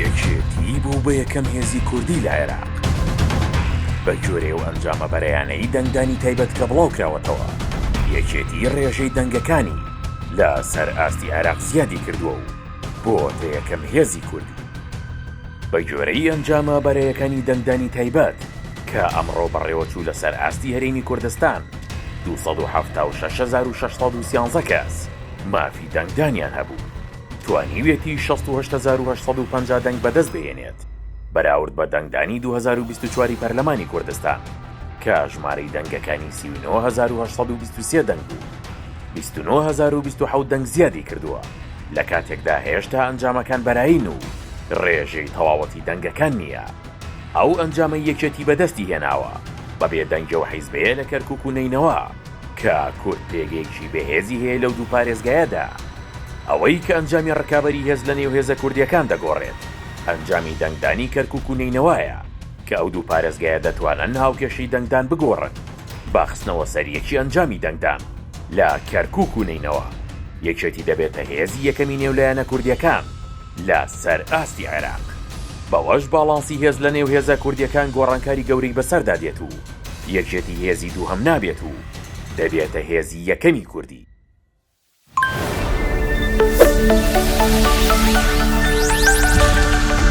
یەکێتی بوو بە یەکەم هێزی کوردی لە عێراق بە گوێرەی ئەو ئەنجامە بەرەیانەی دەنگدانی تایبەت کە بڵاو کراوەتەوە یەکێتی ڕێژەی دەنگەکانی لە سەر ئاستی عێراق زیادی کردووە و بۆتە یەکەم هێزی کوردی بە گوێرەی ئەنجامە بەرەیەکانی دەنگدانی تایبەت کە ئەمڕۆ بەڕێوەچوو لەسەر ئاستی هەرێمی کوردستان 276613 کەس مافی دەنگدانیان هەبوو. توانیویەتی شەست و هەشت هەزار و هەشت سەد و پەنجا دەنگ بەدەست بهێنێت بەراورد بە دەنگدانی دوو هەزار و بیست و چوار ی پەرلەمانی کوردستان کە ژمارەی دەنگەکانی سی و نۆ هەزار و هەشت سەد و بیست و سێ دەنگ بوو بیست و نۆ هەزار و بیست و حەوت دەنگ زیادی کردووە لە کاتێکدا هێشتا ئەنجامەکان بەرایین و ڕێژەی تەواوەتی دەنگەکان نییە ئەو ئەنجامەی یەکێتی بەدەستی هێناوە بەبێ دەنگی ئەو حیزبەیە لە کەرکوک و نەینەوا. کە کورد پێگەیەکی بەهێزی هەیە لەو دوو پارێزگایەدا. ئەوەی کە ئەنجامی ڕکابەری هێز لەنێو هێزە کوردییەکان دەگۆڕێت، ئەنجامی دەنگدانی کەرکووک و نەینەوایە، کە ئەو دوو پارێزگایە دەتوانن هاوکێشەی دەنگدان بگۆڕن بە خستنەوە سەر یەکی ئەنجامی دەنگدان لە کەرکووک و نەینەوا، یەکێتی دەبێتە هێزی یەکەمی نێو لایەنە کوردییەکان. لە سەر ئاستی عێراق. بەوەش باڵانسی هێز لە نێو هێزە کوردیەکان گۆڕانکاری گەورەی بەسەردا دێت و یەکێتی هێزی دووهەم نابێت و دەبێتە هێزی یەکەمی کوردی.